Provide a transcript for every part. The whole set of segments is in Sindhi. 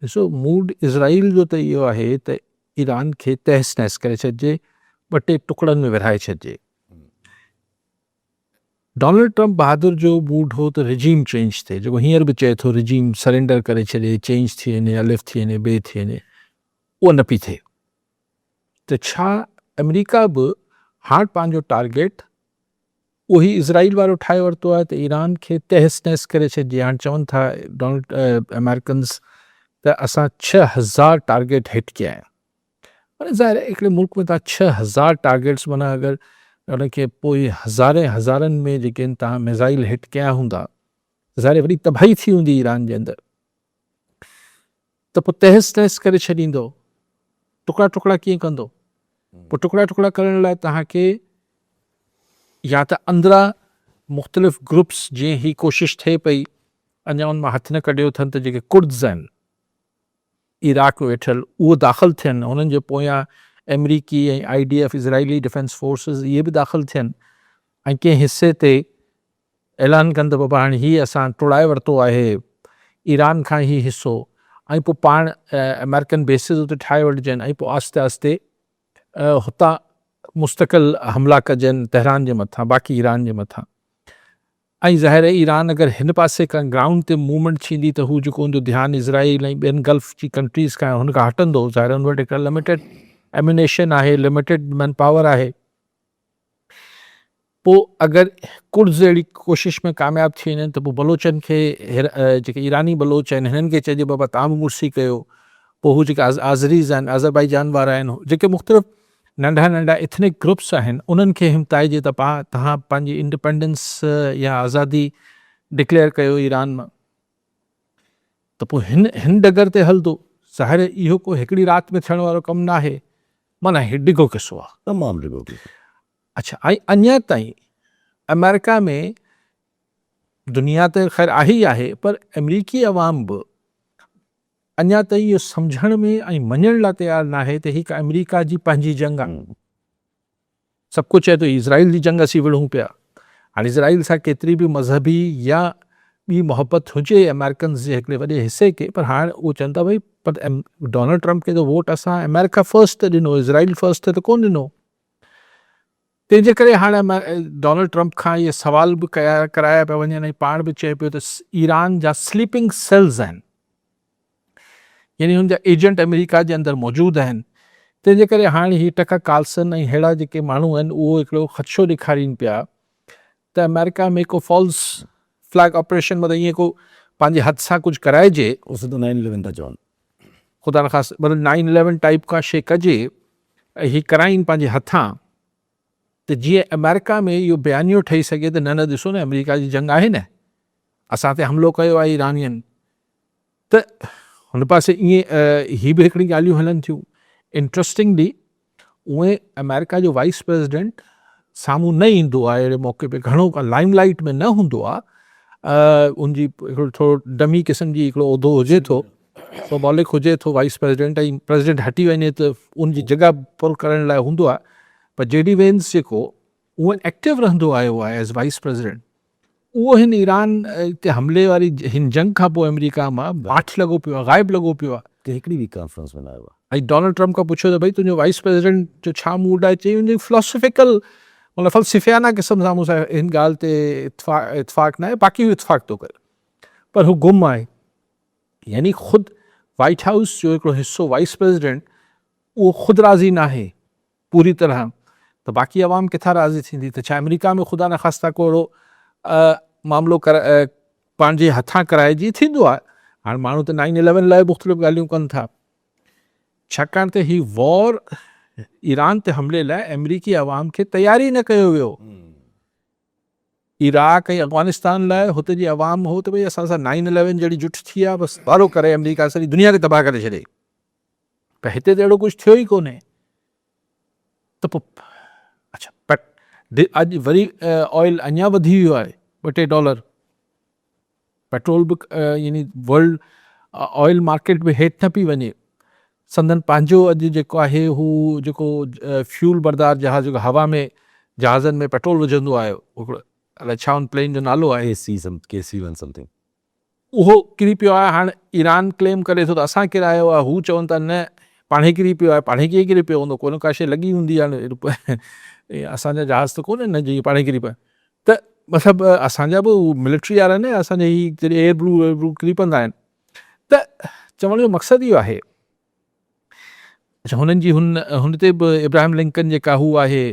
ڏسو موڊ اسرائيل جو ته اهو آهي ته ايران کي تهس نهس ڪري ڇڏجي، ٻه ٽي ٽڪڙن ۾ ورهائي ڇڏجي. ڊونلڊ ٽرمپ بهادر جو موڊ هو ته رجيم چينج ٿئي، جيڪو هينئر به چئي ٿو رجيم سرينڊر ڪري ڇڏي، چينج ٿي وڃي، الف ٿي وڃي، بي ٿي وڃي، اهو نه پئي ٿئي ته ڇا آمريڪا به هاڻ پنهنجو ٽارگيٽ اهو هي اسرائيل وارو ٺاهي ورتو آهي ته ايران کي تهس نهس ڪري ڇڏجي هاڻ چون ٿا ڊونلڊ امريڪنز ته اسان ڇهه هزار ٽارگيٽ هٽ ڪيا آهن معنی ظاهر آهي هڪڙي ملڪ ۾ تها ڇهه هزار ٽارگيٽس معنی اگر ان کي پوء هزارين هزارن ۾ جيڪي آهن تها ميزائل هٽ ڪيا هوندا ظاهر وڏي تباهي ٿي هوندي ايران جي اندر ته پوء تهس نهس ڪري ڇڏيندو، ٽڪڙا ٽڪڙا ڪيئن ڪندو؟ پوء ٽڪڙا ٽڪڙا ڪرڻ لاء توهان کي يا ته اندران مختلف گروپس جيئن هي ڪوشش ٿئي پئي اڃا ان مان هٿ نه ڪڍيو اٿن ته جيڪي ڪردز آهن عراق ۾ ويٺل اهي داخل ٿين هنن جي پويان آمريڪي ۽ I D F Israeli defence forces اهي به داخل ٿين ۽ ڪنهن حصي تي اعلان ڪن ته بابا هاڻي هي اسان ٽوڙائي ورتو آهي ايران کان هي حصو ۽ پوء پاڻ آمريڪن بيسز اتي ٺاهي وٺجن ۽ پوء آهستي آهستي هتان مستقل حملا ڪجن تهران جي مٿان باقي ايران جي مٿان ۽ ظاهر آهي ايران اگر هن پاسي ڪا گرائونڊ تي موومينٽ ٿيندي ته هو جيڪو هوندو ڌيان اسرائيل ۽ ٻين گلف جي ڪنٽريز کان هن کان هٽندو ظاهر هن وٽ هڪ لميٽيڊ ايمونيشن آهي لميٽيڊ مين پاور آهي پوء اگر ڪرڊز اهڙي ڪوشش ۾ ڪامياب ٿي وڃن ته پوء بلوچن کي جيڪي ايراني بلوچ آهن هنن کي چئجي بابا توهان به مڙسي ڪيو پوء هو جيڪي آذريز آهن آذربائيجان وارا آهن جيڪي مختلف ننڍا ننڍا ايٿنڪ گروپس آهن انهن کي همتائجي ته پا تهان پنهنجي انڊپينڊنس يا آزادي ڊڪليئر ڪيو ايران مان ته پوء هن هن ڊگر تي هلندو. ظاهر اهو ڪو هڪڙي رات ۾ ٿيڻ وارو ڪم ناهي. معنيٰ هي ڊگهو قصو آ. تمام ڊگهو قصو. اڇا ۽ اڃا تائين آمريڪا ۾ دنيا ته خير آهي ئي آهي پر آمريڪي عوام به اڃا تائين اهو سمجهڻ ۾ ۽ مڃڻ لاء تيار ناهي ته هي آمريڪا جي پنهنجي جنگ آ. سڀ ڪو چئي ٿو هي اسرائيل جي جنگ اسين وڙهون پيا. هاڻي اسرائيل سان ڪيتري به مذهبي يا ٻي محبت هجي آمريڪنز جي هڪڙي وڏي حصي کي پر هاڻ اهو چون ٿا ڀئي پر ڊونلڊ ٽرمپ کي ته ووٽ اسان آمريڪا فرسٽ تي ڏنو اسرائيل فرسٽ تي ته ڪونه ڏنو. تنهن جي ڪري هاڻ ڊونلڊ ٽرمپ کان اهي سوال به ڪيا ڪرايا پيا وڃن ۽ پاڻ به چئي پيو ته ايران جا سليپنگ سيلز آهن يعني هن جا ايجنٽ آمريڪا جي اندر موجود آهن تنهن جي ڪري هاڻ هي ٽڪر ڪارلسن ۽ ههڙا جيڪي ماڻهو آهن اهو هڪڙو خدشو ڏيکارين پيا ته آمريڪا ۾ ڪو فالس فليگ آپريشن مطلب ائين ڪو پنهنجي هٿ سان ڪجهه ڪرائجي اهو سڌو نائن اليون ٿا چون خدا نخواست مطلب نائن اليون ٽائيپ ڪا شي ڪجي ۽ هي ڪرائين پنهنجي هٿان ته جيئن آمريڪا ۾ اهو بيانيو ٺهي سگهي ته نه نه ڏسو نه آمريڪا جي جنگ آهي نه اسان تي حملو ڪيو آهي ايرانين ته هن پاسي ايئن هي به هڪڙي ڳالهيون هلن ٿيون انٽرسٽنگلي اوئي آمريڪا جو وائيس پريزيڊنٽ سامهون نه ايندو آهي اهڙي موقعي تي گهڻو لائم لائيٽ ۾ نه هوندو آهي ان جي هڪڙو ٿورو ڊمي قسم جي هڪڙو عهدو هجي ٿو سو مالڪ هجي ٿو وائيس پريزيڊنٽ ۽ پريزيڊنٽ هٽي وڃي ته ان جي جڳهه پر ڪرڻ لاء هوندو آهي پر جي ڊي وينس جيڪو هونئن ايڪٽو رهندو آيو آهي ايز وائيس پريزيڊنٽ اهو هن ايران تي حملي واري هن جنگ کان پوء آمريڪا مان باٺ لڳو پيو آهي غائب لڳو پيو آهي ته هڪڙي به ڪانفرنس ۾ نه آيو آهي. ۽ ڊونلڊ ٽرمپ کان پڇيو ته ڀئي تنهنجو وائيس پريزيڊنٽ جو ڇا موڊ آهي چيائين ان جي فلاسافيڪل مطلب فلسفيانه قسم سان مون سان هن ڳالهه تي اتفاق ناهي باقي هو اتفاق ٿو ڪري پر هو گم آهي يعني خود وائيٽ هائوس جو هڪڙو حصو وائيس پريزيڊنٽ اهو خود راضي ناهي پوري طرح ته باقي عوام ڪٿان راضي ٿيندي ته ڇا آمريڪا ۾ خدا نخواسته ڪو اهڙو معاملو پنهنجي هٿان ڪرائي جي ٿيندو آهي هاڻ ماڻهو ته نائن اليون لاء مختلف ڳالهيون ڪن ٿا ڇاڪاڻ ته هي وار ايران تي حملي لاء آمريڪي عوام کي تيار ئي نه ڪيو ويو عراق ۽ افغانستان لاء هتي جي عوام هو ته ڀئي اسان سان نائين اليون جهڙي جٺ ٿي آ بس وارو ڪري آمريڪا سڄي دنيا کي تباهه ڪري ڇڏي پر هتي ته اهڙو ڪجهه ٿيو ئي ڪونهي ته پو اڇا بٽ اڄ وري آئل اڃا وڌي ويو آهي ٻه ٽي ڊالر پيٽرول به يعني ورلڊ آئل مارڪيٽ به هيٺ نه پئي وڃي سندن پنهنجو اڄ جيڪو آهي هو جيڪو فيول بردار جهاز جيڪو هوا ۾ جهازن ۾ پيٽرول وجهندو آيو هڪڙو الائي ڇا ان پلين جو نالو آهي K C some K C one something اهو ڪري پيو آهي هاڻ ايران ڪليم ڪري ٿو ته اسان ڪرايو آهي هو چون ٿا نه پاڻهي ڪري پيو آهي پاڻهي ڪيئن ڪري پيو هوندو ڪو نه ڪا شيء لڳي هوندي هاڻ اسان جا جهاز ته ڪونهن نه جي پاڻهي ڪري پيا ته مطلب اسان جا به ملٽري وارا نه اسان جا هي جڏهن ايئر بلو ويئر بلو ڪري پوندا آهن ته چوڻ جو مقصد اهو آهي اچا هنن جي هن هن تي به ابراهيم لنڪن جيڪا هو آهي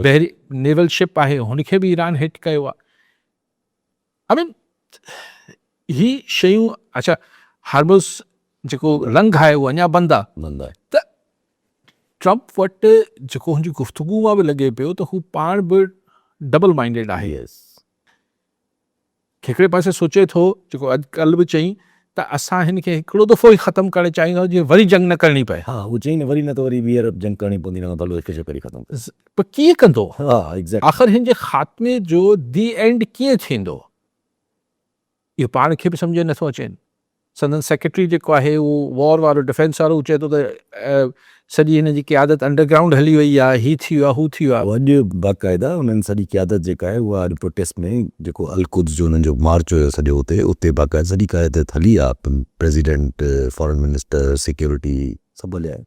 بحري نيول شپ آهي هن کي به ايران هٽ ڪيو آهي آئي مين هي شيون اچا هرمز جيڪو لنگهه آهي اهو اڃا بند آهي ته ٽرمپ وٽ جيڪو هن جي گفتگو مان به لڳي پيو ته هو پاڻ به ڊبل مائنڊيڊ آهي هڪڙي پاسي سوچي ٿو جيڪو اڄ ڪل به چئي ته اسان هن کي هڪڙو دفعو ئي ختم ڪرڻ چاهيون ٿا جيئن وري جنگ نه ڪرڻي پئي ها هو چئي نه وري نه ته وري ٻيهر جنگ ڪرڻي پوندي ان کان ڀلو هڪ چڪر ئي ختم پر ڪيئن ڪندو آخر هن جي خاتمي جو دي اينڊ ڪيئن ٿيندو. اهو پاڻ کي به سمجهه نه ٿو اچين. سندن سيڪريٽري جيڪو آهي اهو وار وارو ڊفينس وارو، هو چئي ٿو ته سڄي هن جي قيادت انڊر گرائونڊ هلي وئي آهي، هي ٿي ويو آهي، هو ٿي ويو آهي. اڄ باقاعده انهن سڄي قيادت جيڪا آهي اها اڄ پروٽيسٽ ۾ جيڪو القدس جو انهن جو مارچ هيو سڄو اتي، اتي باقاعده سڄي قيادت هلي آهي، پريزيڊنٽ، فارن منسٽر، سيڪيورٽي سڀ هليا آهن.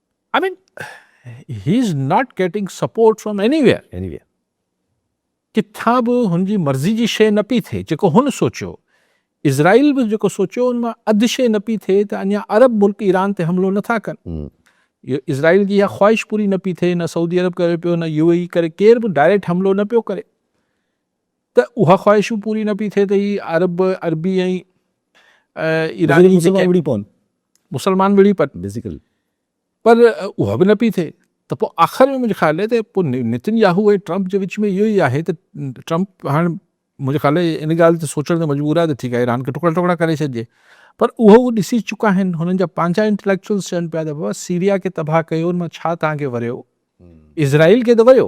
I mean, he is not getting support from anywhere. Anywhere. ڪٿان به هن جي مرضي جي شيء نه پئي ٿئي جيڪو هن سوچيو اسرائيل به جيڪو سوچيو ان مان اڌ شيء نه پئي ٿئي ته اڃا عرب ملڪ ايران تي حملو نٿا ڪن اسرائيل جي اها خواهش پوري نه پئي ٿئي نه سعودي عرب ڪري پيو نه يو اي ڪري ڪير به ڊائريڪٽ حملو نه پيو ڪري ته اها خواهش به پوري نه پئي ٿئي ته هي عرب، عربي ۽ ايراني مسلمان وڙهي پون. مسلمان وڙهي پن. بيسيڪلي. پر اها به نه پئي ٿئي ته پوء آخر ۾ منهنجي خيال ته پوء نتن ياهو ۽ ٽرمپ جي وچ ۾ اهو ئي آهي ته ٽرمپ هاڻ منهنجي خيال ان ڳالهه تي سوچڻ تي مجبور آهي ته ٺيڪ آهي ايران کي ٽڪڙا ٽڪڙا ڪري ڇڏجي. پر اهو هو ڏسي چڪا آهن هنن جا پنهنجا انٽليڪچوئلز چون پيا ته بابا سيريا کي تباهه ڪيو ان مان ڇا توهان کي وريو. اسرائيل کي ته ويو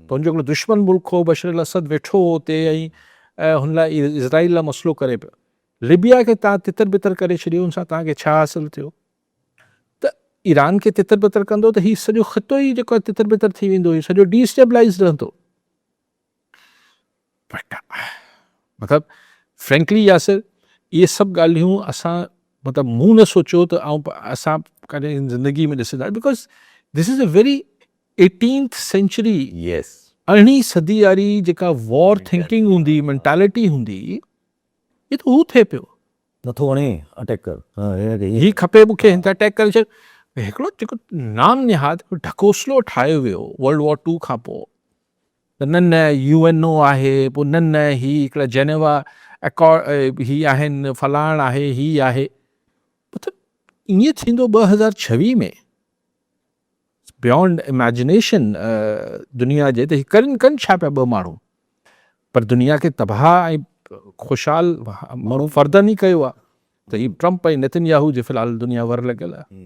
ته هن جو هڪڙو دشمن ملڪ هو بشر الاسد ويٺو هو اتي ۽ هن لاء اسرائيل لاء مسئلو ڪري پيو ليبيا کي تان تتر بتر ڪري ڇڏيو ان سان تان کي ڇا حاصل ٿيو ته ايران کي تتر بتر ڪندو ته هي سڄو خطو ئي جيڪو تتر بتر ٿي ويندو هي سڄو ڊي اسٽيبلائز رهندو مطلب فرينڪلي ياسر اهي سڀ ڳالهيون اسان مطلب مون نه سوچيو ته آئون اسان ڪڏهن زندگي ۾ ڏسندا because this is a very eighteenth century yes ارڙهين صدي واري جيڪا وار ٿنڪنگ هوندي مينٽالٽي هوندي هي ته هو ٿئي پيو نٿو وڻي اٽيڪ ڪر هي کپي مون کي هن تي اٽيڪ ڪري ڇڏ هڪڙو جيڪو نام نهاد ڍڪوسلو ٺاهيو ويو ورلڊ وار ٽو کان پوء ته نه نه يو اين او آهي، پوء نه نه هي هڪڙا جنيوا ايڪارڊ هي آهن، فلاڻ آهي، هي آهي. مطلب ائين ٿيندو ٻه هزار ڇويهه ۾ بيونڊ ايميجنيشن دنيا جي ته ڪن ڪن ڇا پيا ٻه ماڻهو پر دنيا کي تباهه ۽ خوشحال ماڻهو فردن ئي ڪيو آهي ته هي ٽرمپ ۽ نتن ياهو جي في الحال دنيا ور لڳل آهي